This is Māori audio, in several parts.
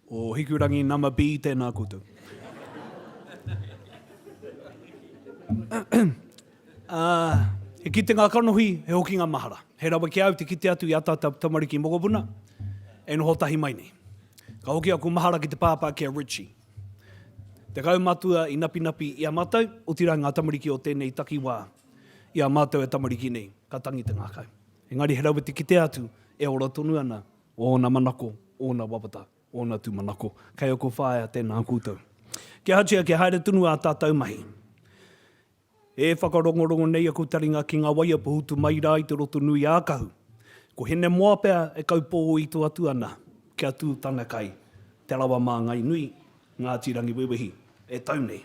O Hikurangi Nama B tēnā koutou. He kitenga kanohi, he hokinga mahara. He rawe ki a au te kite atu i a tātou tamariki mokopuna e noho tahi mai nei. Ka hoki aku mahara ki te pāpā ki a Richie. Tekau matua i napinapi i a mātou, otirā ngā tamariki o tēnei takiwā i a mātou e tamariki nei, ka tangi te ngākau. Engari he rawe te kite atu e ora tonu ana ōna manako, ōna wawata, ōna tūmanako. Kei ōku whaea tēnā koutou. Kia hatia, kia haere tonu ā tātou mahi. E whakarongorongo nei aku taringa ki ngā waia pohutu mai rā i te roto nui a Kahu. Ko Hinemoa pea e kaupōito atu ana kia tū tana kai, Te Rawa Māngai Nui, Ngāti Rangiwewehi, e tau nei.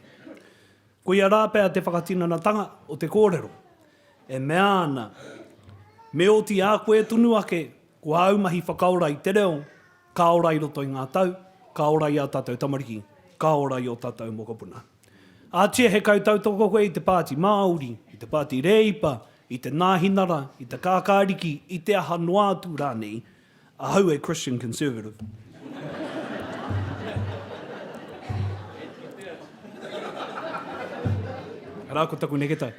Koia rā pea te whakatinanatanga o te kōrero. E mea ana, Me oti a koe tonu ake, ko āu mahi whakaora i te reo, ka ora i roto i ngā tau, ka ora i ā tātou tamariki, ka ora i ō tātou mokopuna. Ātia he kaitautoko koe i te Pāti Māori, i te Pāti Rēipa, i te Nāhinara, i te Kākāriki, i te aha noa atu rānei, Ahau e Christian Conservative. Arā ko taku neketai.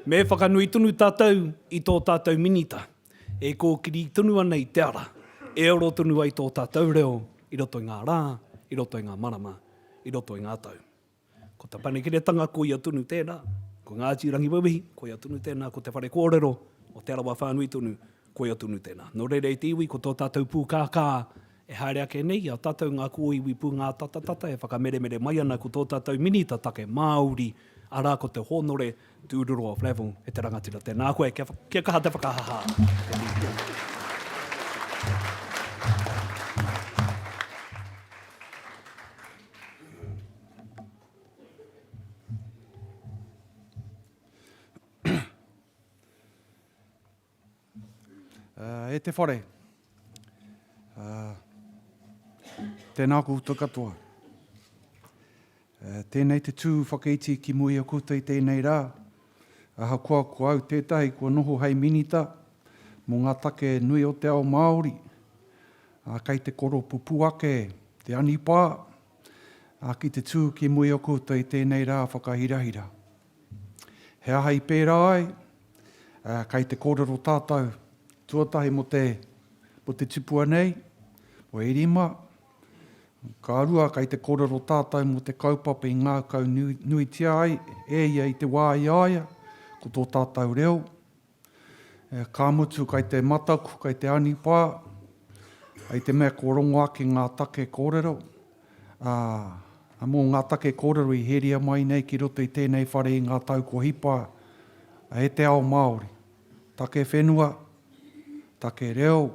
Me whakanui tonu tātou i tō tātou Minita e kōkiri tonu ana i te ara e aro tonu ai tō tātou reo i roto i ngā rā, i roto i ngā marama, i roto i ngā tau. Ko Te Panekiretanga, ko ia tonu tēnā. Ko Ngāti Rangiwewehi, ko ia tonu tēnā. Ko te whare kōrero o Te Arawa whānui tonu, ko ia tonu tēnā. Nō reira e te iwi, ko tō tātou pūkākā e haere ake nei, i a tātou ngā kōiwi pūngātatatata e whakameremere mai ana ko tō tātou Minita Take Māori, arā, ko te Hōnore Tūruroa Flavell, e te rangatira tēnā koe, kia, kia kaha te whakahaha. Uh, e te whare. Uh, tēnā koutou katoa. Uh, tēnei te tū whakaiti ki muia koutou i tēnei rā. Aha koa ko au tētahi kua noho hei minita mō ngā take nui o te ao Māori. Ā, kei te koropupū ake te anipā, ā, ki te tū ki muri o koutou i tēnei rā whakahirahira. He aha i pērā ai? Ā, kei te kōrero tātou, tuatahi mō te, mō te tipua nei, mō Erima, ka rua kei te kōrero tātou mō te kaupapa i ngākau nuitia ai e ia i te wā i a ia, ko tō tātou reo, Ka mutu kai te mataku, kai te anipā, kai te mea kua rongo ake ngā take kōrero, ā, mō ngā take kōrero i heria mai nei ki roto i tēnei whare i ngā tau kua hipa e te ao Māori. Take whenua, take reo,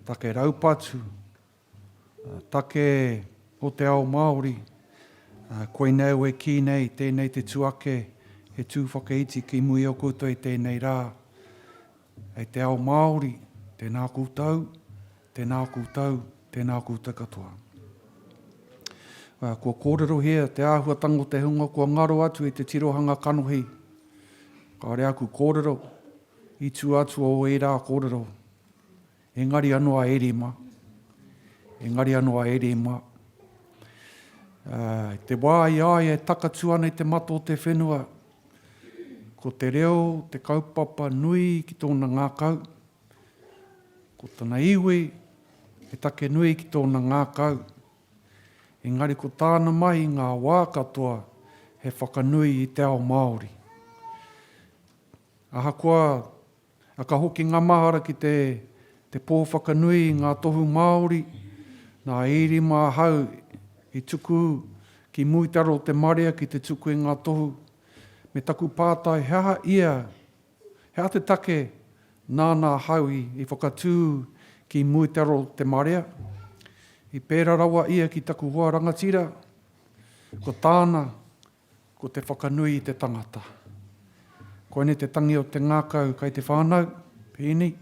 take raupatu, Take o te ao Māori. Koinei au e kī nei, tēnei te tū ake, he tū whakaiti ki muri o koutou i tēnei rā. Hei te ao Māori, tēnā koutou, tēnā koutou, tēnā koutou katoa. Kua kōrerohia te āhuatanga o te hunga kua ngaro atu i te tirohanga kanohi. Kāore aku kōrero, i tua atu o ērā kōrero. Engari anō a Erima, engari anō a Erima, i te wā i a ia e takatū ana i te mata o te whenua, ko te reo te kaupapa nui ki tōna ngākau, ko tana iwi he take nui ki tōna ngākau, engari ko tāna mahi ngā wā katoa he whakanui i te ao Māori. Ahakoa A ka hoki ngā mahara ki te te pō whakanui i ngā tohu Māori, nā Ērima ahau i tuku ki Mūitaro o te marea ki te tuku i ngā tohu, me taku pātai he aha ia, he aha te take nāna ahau i i whakatū ki Mūitaro o te marea. I pērā rawa ia ki taku hoa rangatira, ko tāna, Ko te whakanui i te tangata. Koinei te tangi o te ngākau kai te whānau, pēnei,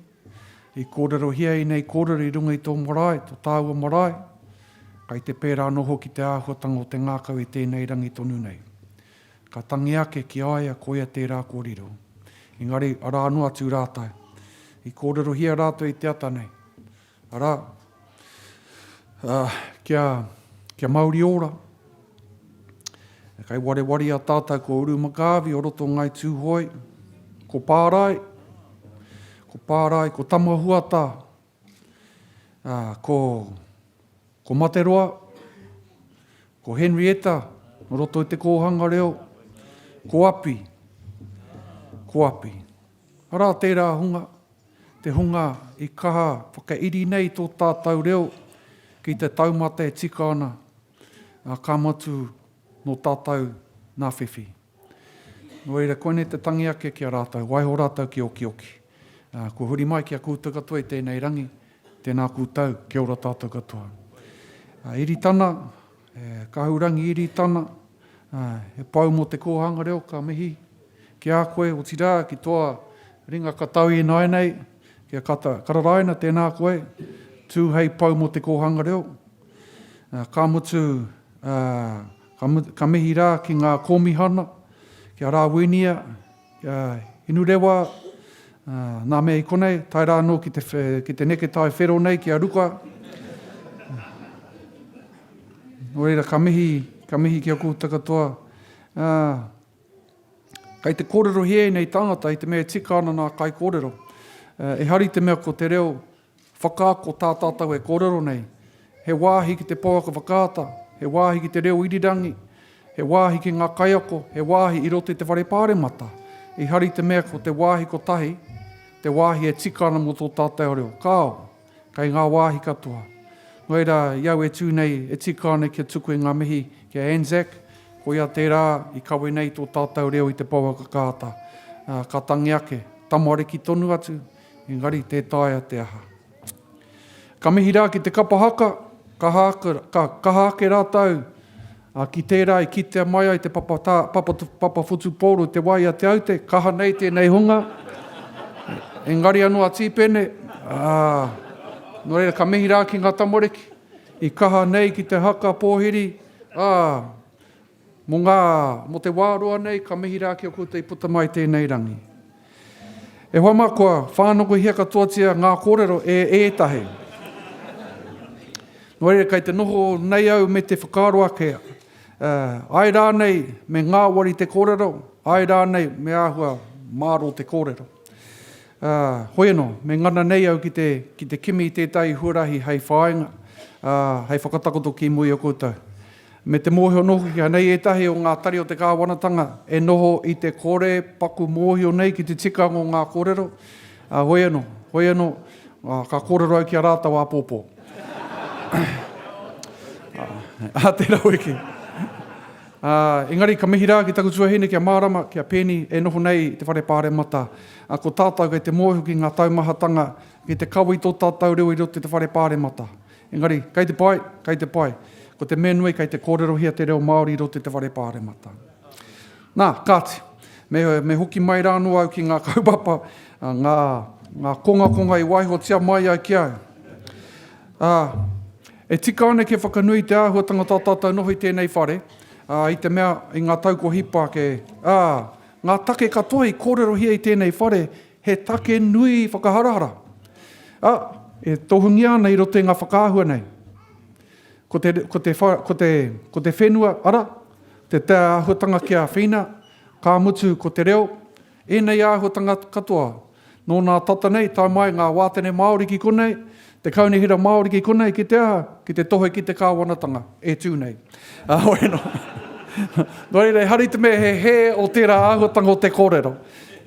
i kōrerohia ēnei kōrero i runga i tō marae, tō tāua marae, kai te pērā anō hoki te āhuatanga o te ngākau i tēnei rangi tonu nei. Ka tangi ake ki a ia koia tērā kua riro. Engari, arā noa atu rātou. I kōrerohia rātou i te ata nei. Arā, ā, kia, kia mauri ora. Kei warewaria tātou ko Uru Makaavi o roto Ngai Tūhoe, ko Pārae, ko Pārae, ko Tamahuata, ā, ko, ko Materoa, ko Henrietta o roto i te kōhanga reo, ko Api, ko Api. Arā tērā hunga, Te hunga i kaha whakairi nei tō tātau reo ki te taumata e tika ana, ā, ka matu nō tātau nā whiwhi. Nō reira, koinei te tangi ake ki a rātau, waiho rātau ki okioki. Kua huri mai ki a koutou katoa i tēnei rangi, tēnā koutou, kia ora tātau katoa. Iri tana, He Kahurangi Iritana, he pou mō te kōhanga reo, ka mihi ki a koe, otirā ki toa ringa katau ināinei, ki a Kata Kararaina, tēnā koe, tū hei pou mō te kōhanga reo. Ka mutu, ka mihi rā ki ngā kōmihana, ki a Rāwinia, Kia inu rewa nā mea i konei, tae rā anō ki te neke tae whero nei ki a Ruka. Nō reira, ka mihi, ka mihi ki a koutou katoa. Kei te kōrerohia ēnei tāngata i te mea e tika ana nā kaikōrero. E hari te mea ko te reo, Whakaako tā tātou e kōrero nei, he wāhi ki te pouaka whakaata, he wāhi ki te reo irirangi, he wāhi ki ngā kaiako, he wāhi i roto i te whare pāremata. I hari te mea ko te wāhi kotahi te wāhi e tika ana mō tō tātou reo. Kāo, kei ngā wāhi katoa. Nō reira, i au e tū nei, e tika ana kia tuku i ngā mihi ki a Anzac, koia tērā i kawe nei tō tātou reo i te pouaka whakaata. Ka tangi ake, tamariki tonu atu, Engari tē taea te aha. Ka mihi rā ki te kapa haka, ka kaha ake rātou ki tērā i kitea mai ai te papa whutupōro i te wā i a Te Aute, kaha nei tēnei hunga, engari anō a Tīpene, ā, nō reira ka mihi rā ki ngā tamariki i kaha nei ki te haka pōhiri, ā, Mō ngā, mō te wā roa nei, ka mihi rā ki a koutou i puta mai tēnei rangi. E hoa mā, kua whānokohia katoatia ngā kōrero e ētahi. Nō reira, kei te noho nei au me te whakaaro ake, āe rānei me ngāwari te kōrero, āe rānei me āhua mārō te kōrero. Ā, hoi anō, me ngana nei au ki te, ki te kimi i tētahi huarahi hei whāinga, ā, hei whakatakoto ki mua i a koutou. Me te mōhio nōku ki anei ētahi o ngā tari o te kāwanatanga e noho i te kore paku mōhio nei ki te tikanga o ngā kōrero, ā, hoi anō, hoi anō, ā, ka kōrero au ki a rātou āpōpō. Ā, tērā wiki. Ā, engari ka mihi rā ki taku tuahine ki a Mārama, ki a Peni e noho nei i te Whare Pāremata. Ā, ko tātou kei te mōhio ki ngā taumahatanga, ki te kawe i tō tātou reo i roto i te Whare Pāremata. Engari, kei te pai, kei te pai. Ko te mea nui, kei te kōrerohia te reo Māori i roto i te whare pāremata. Nā, kāti, me, me hoki mai rā anō au ki ngā kaupapa, ngā, ngā kongakonga i waihotia mai ai ki au. Ā, e tika ana kia whakanui te āhuatanga tā tātou noho i tēnei whare, ā, i te mea, i ngā tau kua hipa ake, ā, ngā take katoa i kōrerohia i tēnei whare, He take nui whakaharahara, ā, e tohungia ana i roto i ngā whakaahua nei. Ko te, ko te, ko te, ko te whenua, arā, te te āhuatanga ki a Whina, ka mutu ko te reo, ēnei āhuatanga katoa. Nō nā tata nei, tae mai ngā wātene Māori ki konei, Te Kaunihera Māori ki konei, ki te aha? Ki te tohe ki te Kāwanatanga e tū nei. Heoi anō. Nō reira, ehara i te mea he hē o tērā āhuatanga o te kōrero.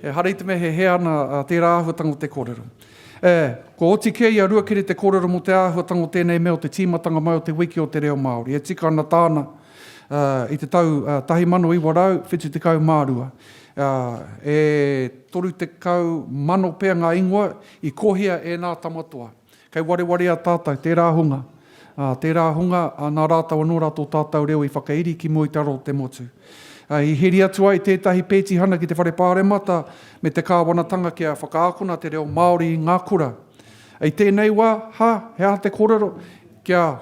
Ehara i te mea he hē ana tērā āhuatanga o te kōrero. E, kua oti kē i a Ruakere te kōrero mō te āhuatanga o tēnei mea o te tīmatanga mai o te Wiki o te Reo Māori. E tika ana tāna i te tau 1972. E 30 mano pea ngā ingoa I kohia e nā Tamatoa. Kei warewareā tātou, tērā hunga, ā, tērā hunga, ā, nā rātou anō rā tō tātou reo i whakairi ki mua i te aro o te motu. Ā, i heri atu ai tētahi pētihana ki te Whare Pāremata me te Kāwanatanga kia whakaakona te reo Māori i ngā kura. I tēnei wā, ha, he aha te kōrero? Kia,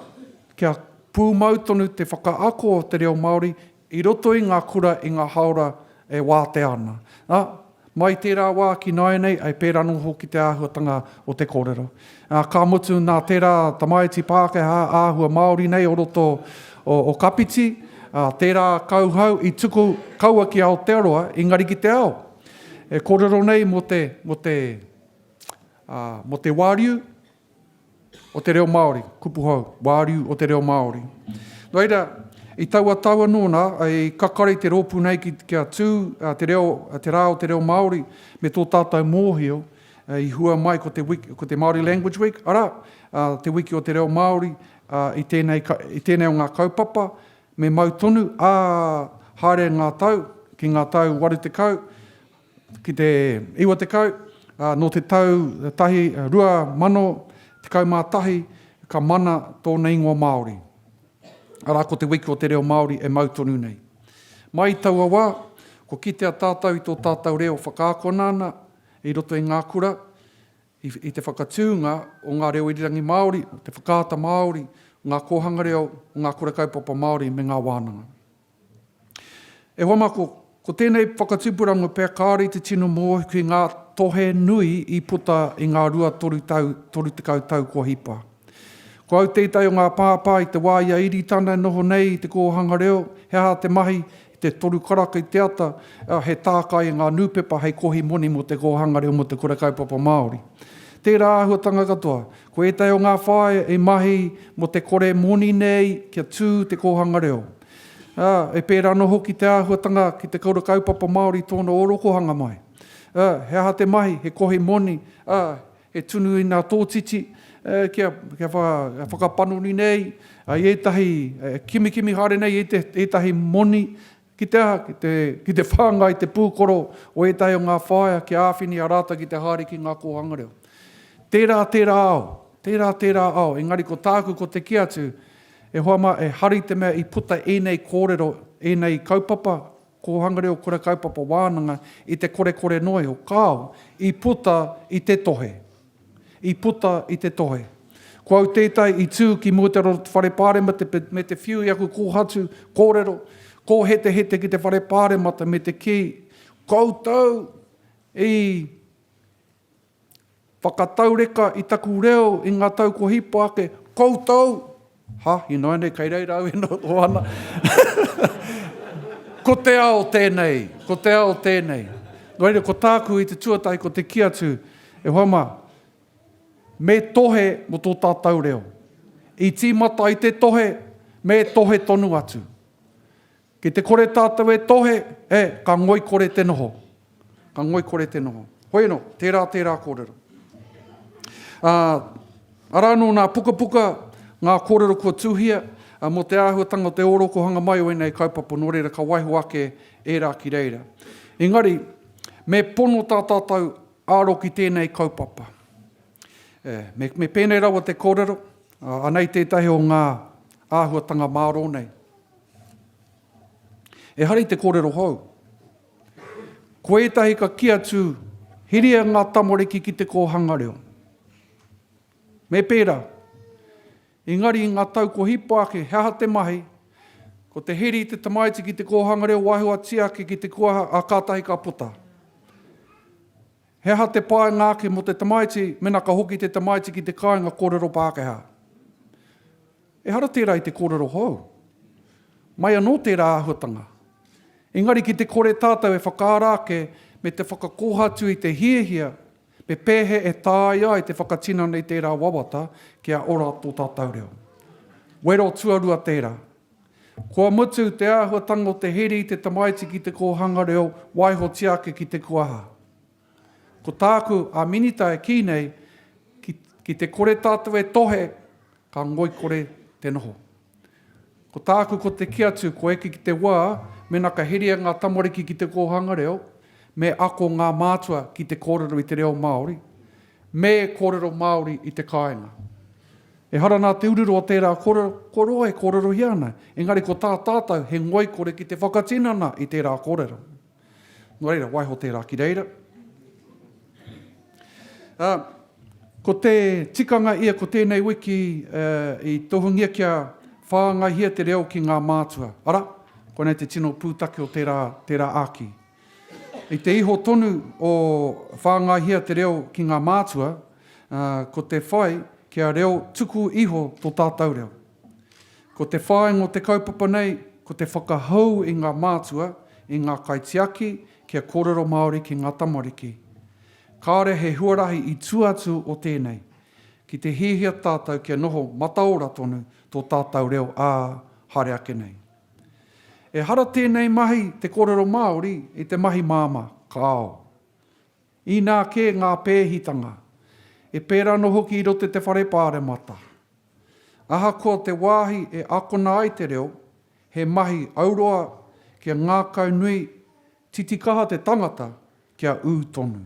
kia pūmau tonu te whakaako o te reo Māori I roto i ngā kura i ngā hāora e wātea ana. Ā, mai i tērā wā ki nāianei, ā, i pērā anō hoki te āhuatanga o te kōrero. Ā, ka mutu nā tērā tamaiti Pākehā āhua Māori nei o roto o Kapiti, ā, tērā kauhau i tuku kaua ki Aotearoa, engari ki te ao. E kōrero nei mō te, mō te, ā, mō te wāriu. o te reo Māori, kupu hou, wāriu o te reo Māori. Nō reira, i taua tau anō nā, i kakari te rōpū nei ki, kia tū te reo, te rā o te reo Māori me tō tātou mōhio i hua mai ko te, ko te Māori Language Week, arā, te wiki o te reo Māori i tēnei, i tēnei o ngā kaupapa, me mau tonu, ā, haere ngā tau, ki ngā tau 80, ki te 90, ā, nō te tau tahi, 2011, ka mana tōna ingoa Māori, arā, ko Te Wiki o te Reo Māori e mau tonu nei. Mai i taua wā, kua kitea tātou i tō tātou reo whakaakona ana i roto i ngā kura, i, i te whakatūnga o ngā reo irirangi Māori, te whakaata Māori, ngā kōhanga reo, ngā kura kaupapa Māori me ngā wānanga. E hoa mā, ko tēnei whakatupuranga pea kāore i te tino mōhio ki ngā tohe nui i puta i ngā rua toru tau, toru tekau tau kua hipa. Ko au tētahi o ngā pāpā i te wā i a Iritana e noho nei i te kōhanga reo, he aha te mahi i te toru karaka i te ata, ā, he tākai i ngā nūpepa hei kohi moni mō te kōhanga reo mō te kura kaupapa Māori. Tērā āhuatanga katoa, Ko ētahi o ngā whāea i mahi mō te kore moni nei kia tū te kōhanga reo, ā, e pērā anō hoki te āhuatanga ki te kura kaupapa Māori i tōna ōrokohanga mai. Ā, he aha te mahi, he kohi moni, ā, he tunu i ngā tōtiti, ā, kia, kia wha, whakapanoni nei, ā, i ētahi, ā, kimikimi haere nei i ētahi moni, Ki te aha? Ki te whāngai te pūkoro o ētahi o ngā whāea kia āwhini a rātou ki te haere ki ngā kōhanga reo. Tērā tērā ao, tērā tērā ao, engari ko tāku ko te kī atu, e hoa mā, e hari te mea i puta ēnei kōrero, ēnei kaupapa kōhanga reo kura kaupapa wānanga i te korekore noa iho, kāo, i puta i te tohe. I puta i te tohe. Ko au tētai i tū ki mua te roro te whare pāremata me te whiu i aku kōhatu, kōrero, kōhetehete ki te whare pāremata me te kī, koutou i whakataureka i taku reo i ngā tau kua hipa ake, koutou Ha, ināinei kei reira au e noho ana. ko te ao tēnei, ko te ao tēnei. Nō reira, ko tāku i te tuatahi, ko te ki atu, e hoa mā, me tohe mo tō tātou reo. I tīmata i te tohe, me tohe tonu atu. Ki te kore tātou e tohe, e, ka ngoikore te noho. Ka ngoikore te noho. Hoi anō, tērā, tērā kōrero. Ā, arā anō nā pukapuka ngā kōrero kua tuhia, ā, mō te āhuatanga o te ōrokohanga mai o ēnei kaupapa nō reira ka waiho ake ērā ki reira. Engari, me pono tā tātou aro ki tēnei kaupapa. E, me, me pēnei rawa te kōrero, ā, anei tētahi o ngā āhuatanga mārō nei. Ehara i te kōrero hou. Ko ētahi ka kī atu, Hiria ngā tamariki ki te kōhanga reo. Me pērā. Engari i ngā tau kua hipa ake, he aha te mahi? Ko te hiri i te tamaiti ki te kōhanga reo wahiwatia ake ki te kuaha, ā, kātahi ka puta. He aha te painga ake mō te tamaiti mēnā ka hoki te tamaiti ki te kāinga kōrero Pākehā? Ehara tērā i te kōrero hou. Mai anō tērā āhuatanga. Engari ki te kore tātou e whakaara ake me te whakakōhatu i te hiahia me pēhea e tāia ai te whakatinana i tērā wawata kia ora tō tātou reo. Wero tuarua tērā. Kua mutu te āhuatanga o te heri i te tamaiti ki te kōhanga reo, waihotia ake ki te kuaha. Ko tāku a Minita e kī nei, ki, ki te kore tātou e tohe, ka ngoikore te noho. Ko tāku ko te kī atu, kua eke ki te wā, mēnā ka heria ngā tamariki ki te kōhanga reo, me ako ngā mātua ki te kōrero i te reo Māori, me kōrero Māori i te kāinga. Ehara nā te ururua o tērā kōrero, kua roa e kōrerohia ana, engari ko tā tātou he ngoikore ki te whakatinana i tērā kōrero. Nō reira, waiho tērā ki reira. Ā, ko te tikanga ia ko tēnei wiki i tohungia kia whāngaihia te reo ki ngā mātua, arā, koinei te tino pūtake o tērā, tērā āki. I te iho tonu o whāngaihia te reo ki ngā mātua, ā, ko te whai kia reo tuku iho tō tātou reo. Ko te whāinga o te kaupapa nei, ko te whakahou i ngā mātua, i ngā kaitiaki kia kōrero Māori ki ngā tamariki. Kāore he huarahi i tua atu o tēnei, ki te hiahia tātou kia noho mataora tonu tō tātou reo ā, haere ake nei. Ehara tēnei mahi te kōrero Māori i te mahi māmā, kāo. Inā kē ngā pēhitanga, e pērā anō hoki i roto i te Whare Pāremata. Ahakoa te wāhi e akona ai te reo, he mahi auroa kia ngākau nui titikaha te tangata kia ū tonu.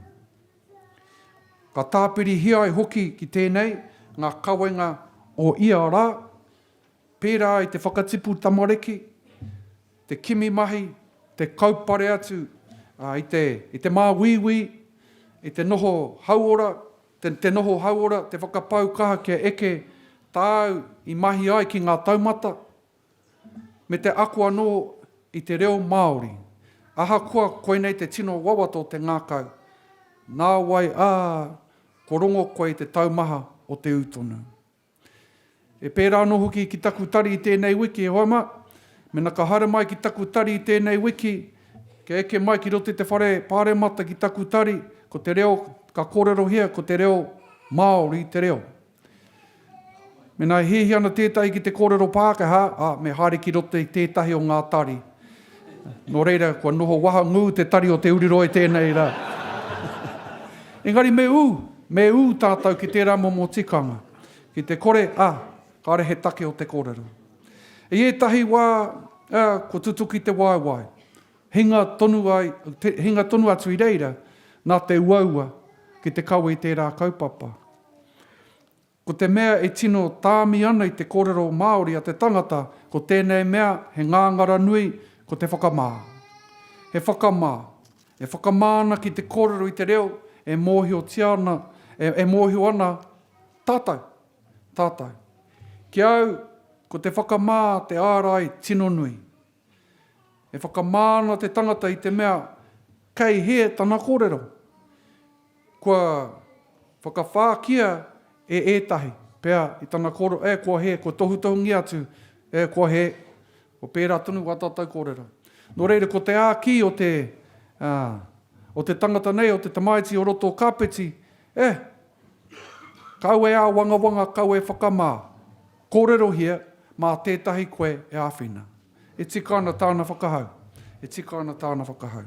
Ka tāpirihia ai hoki ki tēnei ngā kawenga o ia rā, pērā i te whakatipu tamariki, te kimi mahi, te kaupare atu i te māuiui, i te noho hauora, te noho hauora, te whakapau kaha kia eke tāu i mahi ai ki ngā taumata, me te ako anō i te reo Māori. Ahakoa koinei te tino wawata o te ngākau, nāwai ā, kua rongo koe i te taumaha o te ū tonu. E pērā anō hoki ki taku tari i tēnei wiki, e hoa mā. Mēnā ka haere mai ki taku tari i tēnei wiki, kia eke mai ki roto i te whare pāremata ki taku tari, ko te reo ka kōrerohia ko te reo Māori te reo. Mēnā e hiahia ana tētahi ki te kōrero Pākehā, ā, me haere ki roto i tētahi o ngā tari. Nō reira, kua noho waha ngū te tari o Te Uriroa i tēnei rā. Engari me ū, me ū tātou ki tērā momo tikanga, ki te kore, ā, kāore he take o te kōrero. I ētahi wā, ā, kua tutuki te waewae, hinga tonu ai, te, hinga tonu atu i reira, nā te uaua ki te kawe i tērā kaupapa. Ko te mea e tino tāmi ana i te kōrero Māori a te tangata, ko tēnei mea he ngāngara nui, ko te whakamā. He whakamā. E whakamā ana ki te kōrero i te reo e mōhiotia ana, e mōhio ana tātou, tātou. Ki a au, ko te whakamā te ārai tino nui. E whakamā ana te tangata i te mea kei hē tana kōrero, kua whakawhākia e ētahi, pea i tana kōrero, e, kua hē, kua tohutohungia atu, e, kua hē, kua pērā tonu wā tātou kōrero. Nō reira, ko te āki o te, ā, o te tangata nei, o te tamaiti o roto o Kāpeti, e, kaua e āwangawanga, kaua e whakamā. Kōrerohia mā tētahi koe e āwhina. E tika ana tāna whakahau. E tika ana tāna whakahau.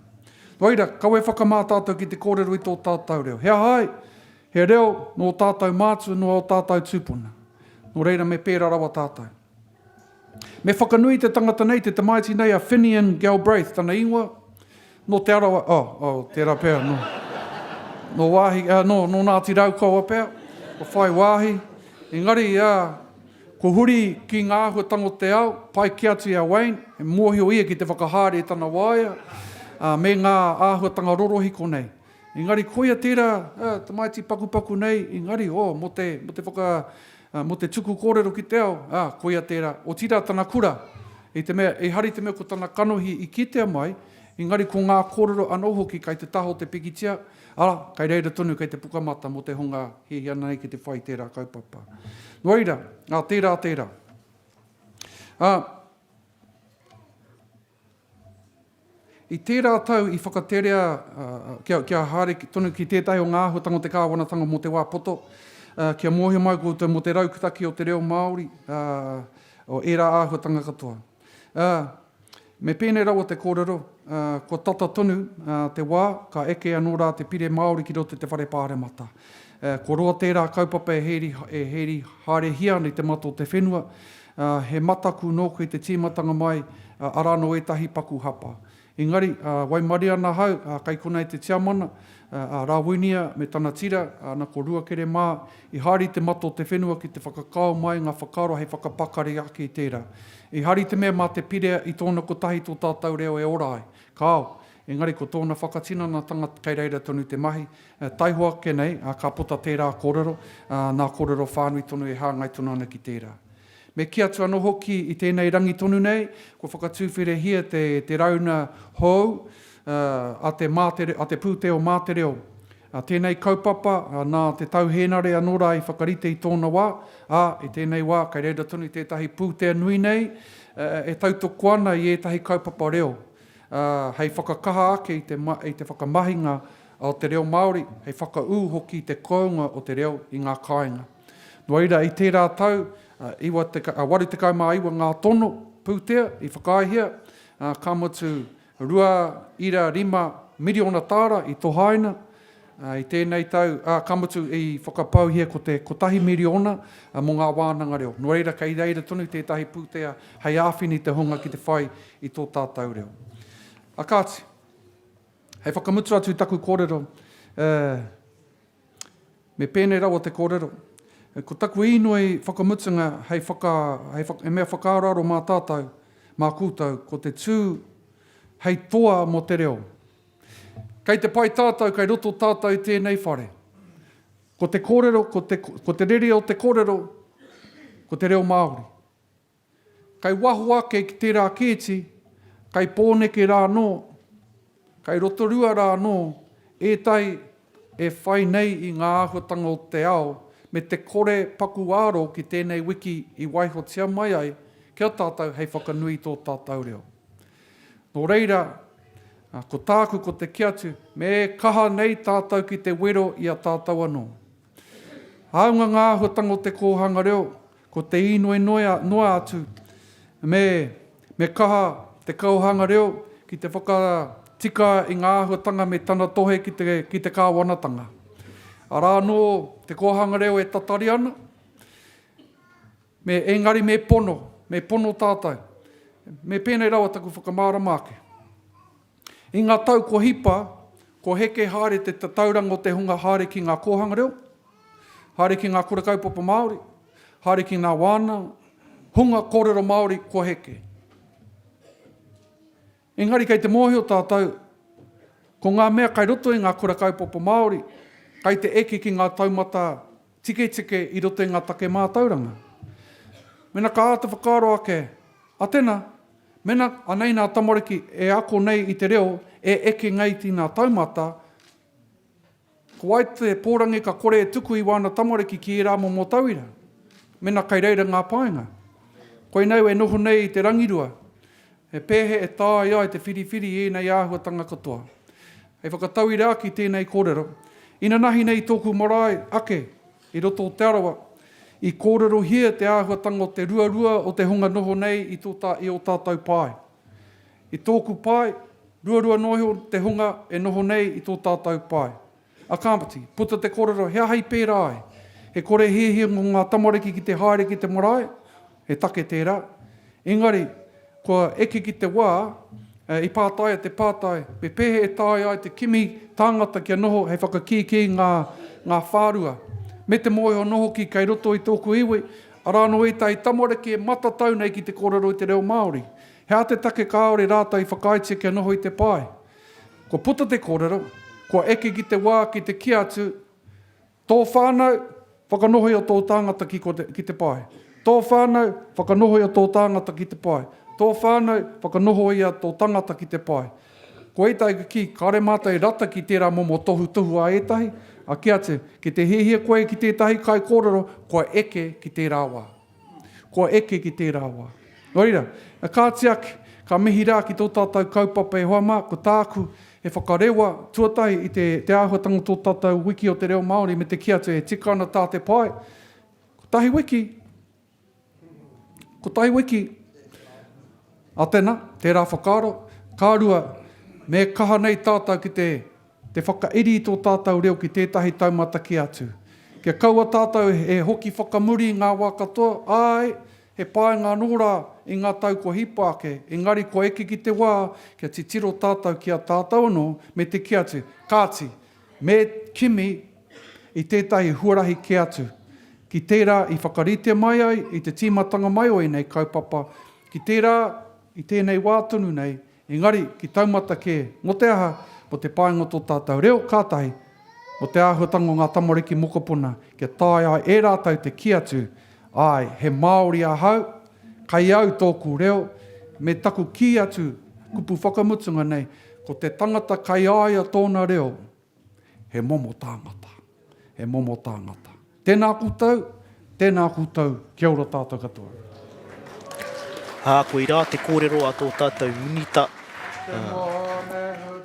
Nō reira, kawe whakamā tātou ki te kōrero i tō tātou reo. He aha ai? He reo nō ō tātou mātua, nō ō tātou tūpuna. Nō reira, me pērā rawa tātou. Me whakanui i te tangata nei, te tamaiti nei a Finian Galbraith, tana ingoa, Nō Te Arawa, oh, oh, tērā pea, nō, nō wāhi, ā, nō, nō Ngāti Raukawa pea, kua whai wāhi. Engari, ā, kua huri ki ngā āhuatango o te ao, pai kē atu i a Wayne, he mōhio ia ki te whakahaere i tana waea, ā, me ngā āhuatanga rorohiko nei. Engari koia tērā tamaiti pakupaku nei, engari, oh, mō te, mō te whaka, mō te tuku kōrero ki te ao, ā, koia tērā, otirā tana kura, i te mea, ehara i te mea ko tana kanohi i kitea mai, engari ko ngā kōrero anō hoki kai te taha o te pikitia, arā, kai reira tonu kei te pukamata mō te hunga hiahia ana nei ki te whai i tērā kaupapa. Nō reira, ā, tērā tērā. Ā. I tērā tau i whakaterea kia haere tonu ki tētahi o ngā āhuatanga o te kāwanatanga mō te wā poto, kia mōhio mai koutou mō te rautaki o te reo Māori, o ērā āhuatanga katoa. Me pēnei rawa te kōrero, kua tata tonu te wā, ka eke anō rā te pire Māori ki roto i te Whare Pāremata. Kua roa tērā kaupapa e hēri haerehia ana i te mata o te whenua, He mataku nōku i te tīmatanga mai, arā anō ētahi paku hapa. Engari, waimarie ana ahau, kei konā e te tiamana, a Rāwinia me tana tira, ana ko Ruakere mā, i haere i te mata o te whenua ki te whakakao mai ngā whakaaro hei whakapakari ake i tērā. I haere i te mea mā te Pirea i tōna kotahi tō tātou reo e ora ai. Kāo! Engari ko tōna whakatinanatanga kei reira tonu te mahi, taihoa ake nei ka puta tērā kōrero, nā kōrero whānui tonu e hāngai tonu ana ki tērā. Me kī atu anō hoki i tēnei rangi tonu nei, kua whakatūwherehia te te rauna hou a te mātere, a te pūteo mā te reo. Tēnei kaupapa nā Te Tau Hēnare anō rā i whakarite i tōna wā, ā, i tēnei wā kei reira tonu tētahi pūtea nui nei e tautoko ana i ētahi kaupapa reo, ā, hei whakakaha ake i te i te whakamahinga o te reo Māori, hei whakaū hoki i te kounga o te reo i ngā kāinga. Nō reira, i tērā tau, ā, 89 ngā tono pūtea i whakaaehia, ā, ka mutu, rua ira rima miriona tāra i tohaina, I tēnei tau, ā, ka mutu i whakapauhia ko te kotahi miriona mō ngā wānanga reo. Nō reira, kei reira tonu tētahi pūtea hei āwhina i te hunga ki te whai i tō tātou reo. Ā kāti, hei whakamutu atu i taku kōrero, ā, me pēnei rawa te kōrero, ko taku īnoi whakamutunga hei whaka, hei, he mea whakaaroaro mā tātou, mā koutou, ko te tū hei toa mō te reo. Kei te pai tātou, kei roto tātou i tēnei whare. Ko te kōrero, ko te, ko te rere o te kōrero, ko te reo Māori. Kei waho ake ki tērā kēti, kei Pōneke rā anō, kei Rotorua rā anō, ētahi e whai nei i ngā āhuatanga o te ao me te kore paku āro ki tēnei wiki i waihotia mai ai ki a tātou hei whakanui i tō tātou reo. Nō reira, ko tāku ko te kī atu, me kaha nei tātou ki te wero i a tātou anō. Hāunga ngā āhuatanga o te kōhanga reo, ko te īnoi noa atu, me, me kaha te kaohanga reo ki te whakatika i ngā āhuatanga me tana tohe ki te, ki te kāwanatanga. Arā anō te kōhanga reo e tatari ana. Me, engari me pono, me pono tātou. Me pēnei rawa taku whakamārama ake. I ngā tau kua hipa, kua heke haere te tatauranga o te hunga haere ki ngā kōhanga reo, haere ki ngā kura kaupapa Māori, haere ki ngā wānanga, hunga kōrero Māori kua heke. Engari kei te mōhio tātou, ko ngā mea kai roto i ngā kura kaupapa Māori, kai te eke ki ngā taumata tiketike i roto i ngā take mātauranga. Mena ka āta whakaaro ake, a tena, mena anei nā tamariki e ako nei i te reo e eke nei tīnā taumata, Ko wai te pōrangi ka kore e tuku i wāna tamariki ki ērā momo tauira, mena kei reira ngā painga? Koinei au e noho nei i te rangirua, he pēhea e tāia ai te whiriwhiri i ēnei āhuatanga katoa? Hei whakatauira ake i tēnei kōrero, inanahi nei i tōku marae ake i roto o Te Arawa, i kōrerohia te āhuatanga o te ruarua o te hunga noho nei i tō tā i ō tātou pae. I tōku pae, ruarua noa iho te hunga e noho nei i tō tātau pae. A Kāmati, puta te kōrero, he aha i pērā ai? He kore hiahia mō ngā tamariki ki te haere ki te marae? He take tērā. Engari, kua eke ki te wā, i pātaia te pātai, me pēhea e taea ai te kimi tāngata kia noho hei whakakīkī ngā ngā whārua? Me te mōhio anō hoki kei roto i tōku iwi, arā anō ētahi tamariki e matatau nei ki te kōrero i te reo Māori. He aha te take kāore rātou i whakaaetia kia noho i te pae? Kua puta te kōrero, kua eke ki te wā ki te kīa atu, Tō whānau, whakanohoi o tō tāngata ki ko te, ki te pae. Tō whānau, whakanohoi o tō tāngata ki te pae. Tō whānau, whakanohoia tō tangata ki te pae. Ko ētahi ka kī, kāore mātou e rata ki tērā momo tohutohu a ētahi, a kīa atu, ki te hiahia koe ki tētahi kaikōrero, kua eke ki tērā wā. Kua eke ki tērā wā. Nō reira, e kāti ake, ka mihi rā ki tō tātou kaupapa e hoa mā, ko tāku, he whakarewa, tuatahi i te, te āhuatanga o tō tātou wiki o te reo Māori me te kī atu e tika ana tā te pae, kotahi wiki, kotahi wiki, ā tēnā, tērā whakaaro, ka rua, me kaha nei tātou ki te. Te whakairi i tō tātau reo ki tētahi taumata kē atu. Kia kaua tātau e hoki whakamuri i ngā wā katoa, āe, he pānga anō rā i ngā tau kua hipa ake, engari kua eke ki te wā kia titiro tātau ki a tātau anō me te kē atu. Kāti, me kimi i tētahi huarahi kē atu, ki tērā i whakarite mai ai i te tīmatanga mai o ēnei kaupapa, ki tērā i tēnei wā tonu nei Engari, ki taumata kē, mō te aha, mō te painga o tō tātou reo, kātahi, mō te āhuatanga o ngā tamariki mokopuna, kia taea ai e rātou te kī atu, Āe, he Māori ahau, kei au tōku reo, me taku kī atu, kupu whakamutunga nei, ko te tangata kei a ia tōna reo, He momo tāngata. He momo tāngata. Tēnā koutou, tēnā koutou, kia ora tātou katoa. Ā, koirā te kōrero a tō tātou Minita,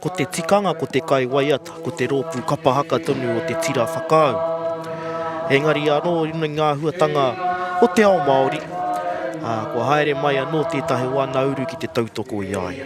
ko te tikanga ko te kai waiata, ko te rōpū kapa haka tonu o te tira whakaau. Engari anō i runga i ngā āhuatanga o te ao Māori, kua haere mai anō tētahi o ana uru ki te tautoko i a ia.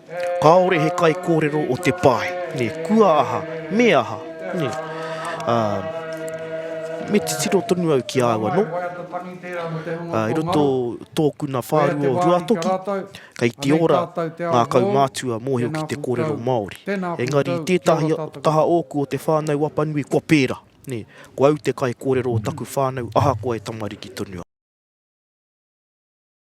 Kāore he kaikōrero o te pae, nē, kua aha, me aha, nē. Ā, me titiro tonu au ki a au anō. Ā, i roto tōku nā whārua o Ruatoki, kei te ora ngā kaumātua mōhio ki te kōrero Māori. Engari i tētahi taha ōku o te whānau Apanui, kua pērā, nē, ko au te kaikōrero o taku whānau ahakoa e tamariki tonu au.